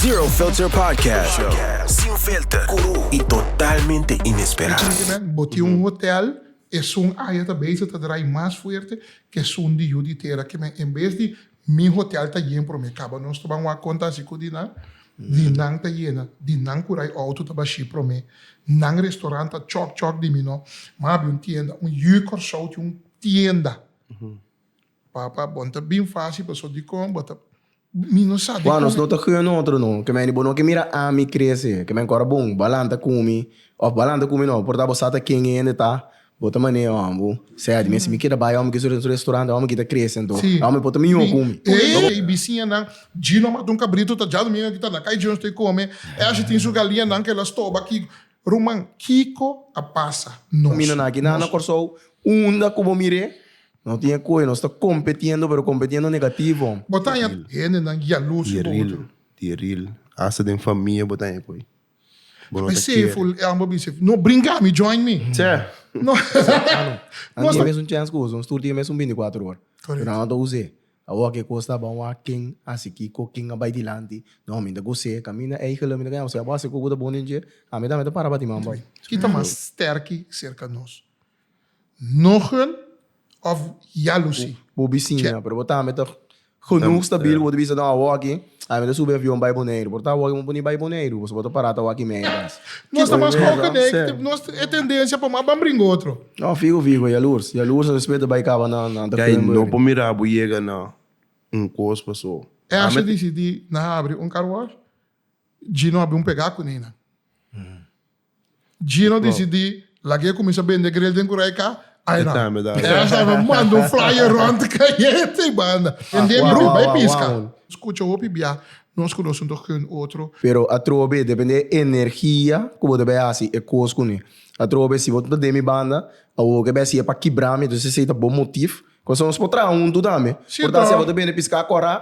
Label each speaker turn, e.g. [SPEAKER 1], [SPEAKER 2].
[SPEAKER 1] Zero Filter Podcast Show. Sin filter, cru y totalmente inesperado. Boti un
[SPEAKER 2] hotel esun aya ta beza ta draai mas fuerte cu esun di yu di tera cu men en bes di mi hotel ta yen prome caba nos ta ban wak conta asi cu di nan di nan ta yena di nan cu rai auto ta bashi prome nan restaurant ta chok chok di mi no ma abi un tienda un yu Corsou tin un tienda Papa, bon ta bin fácil pasobra dikon bo ta mi no sa dikon. Nos no ta hue notro
[SPEAKER 3] no ke men di bo no ke mira ami krese ke men kora bon bo lanta ku mi òf bo a lanta ku mi no por ta bo sa ta ken e hende ta bo ta manea hòmber bo sea di mi si mi keda bai hòmber ke su restaurante hòmber ki ta krese anto e hòmber por ta mihó ku mi. Ey bisiñanan
[SPEAKER 2] Dji no mata un kabritu ta djando mi aki ta na kai Dji no stay kome e asha tin su galiñanan ke el a stoba aki ruman kiko a pasa nos mi no na aki na na Kòrsou
[SPEAKER 3] unda ku bo mir'é No tin e koe, nos ta kompetiendo pero kompetiendo negativo. Bo ta haña hendenan
[SPEAKER 2] yalus ku bo utru. Dieril,
[SPEAKER 4] hasta den famia bo ta haña koe. Bo no ta kere.
[SPEAKER 2] Deceitful, e amba bisef, no bringa mi, join mi. Tse. No.
[SPEAKER 3] Nos ta. Anto mes un chance ku boso, nos tur tin mes un binti kuater or. Korekto. Pero ano ta us'e. Awor ke kos ta bon wak, ken a hasi kiko, ken a bai dilanti. No, mi ta gos'e, kaminda eigele, mi ta kaña bo, si abo a hasi ku bo ta bon den dje, ami tambe ta para pa ti man bo. I ta mas
[SPEAKER 2] sterki serka nos. Nogel of Yalusi? Bo bisiña, pero
[SPEAKER 3] bo tambe ta genoeg stabiel ku bo ta bisa dan awoki a mi ta subi avion bai Boneiru. Por ta awoki mi pone bai Boneiru, pasobra bo ta para ta wak i mei akas. Nos ta mas hopi
[SPEAKER 2] den e, nos e tendensia pa mas ban bringa otro. No, fiho fiho, e
[SPEAKER 3] yalurs. Yalurs a respet ta bai kaba na Duckpennbury. No por mira bo
[SPEAKER 4] yega na un kos paso. Asha disidi
[SPEAKER 2] na habri un car wash, Gino a bin pega kune nan. Gino disidí laga e kuminsá bende gril den Kuraika, ayna Ernst a lo manda un flyer rònt kayente i banda hende mi bai bai piska. Skucha hopi bia nos ku nos un tòg ku un otro. Pero atroba b'e
[SPEAKER 3] depende e energia ku bo ta bai hasi e kos kuné. Atroba b'e si bo ta den mi banda, awor ke b'e hasi e pa kibra mi, entonces esei ta bo motif. Kos nos por traha huntu tambe. Por ta hasi abo ta bende
[SPEAKER 2] piska
[SPEAKER 3] kòrá.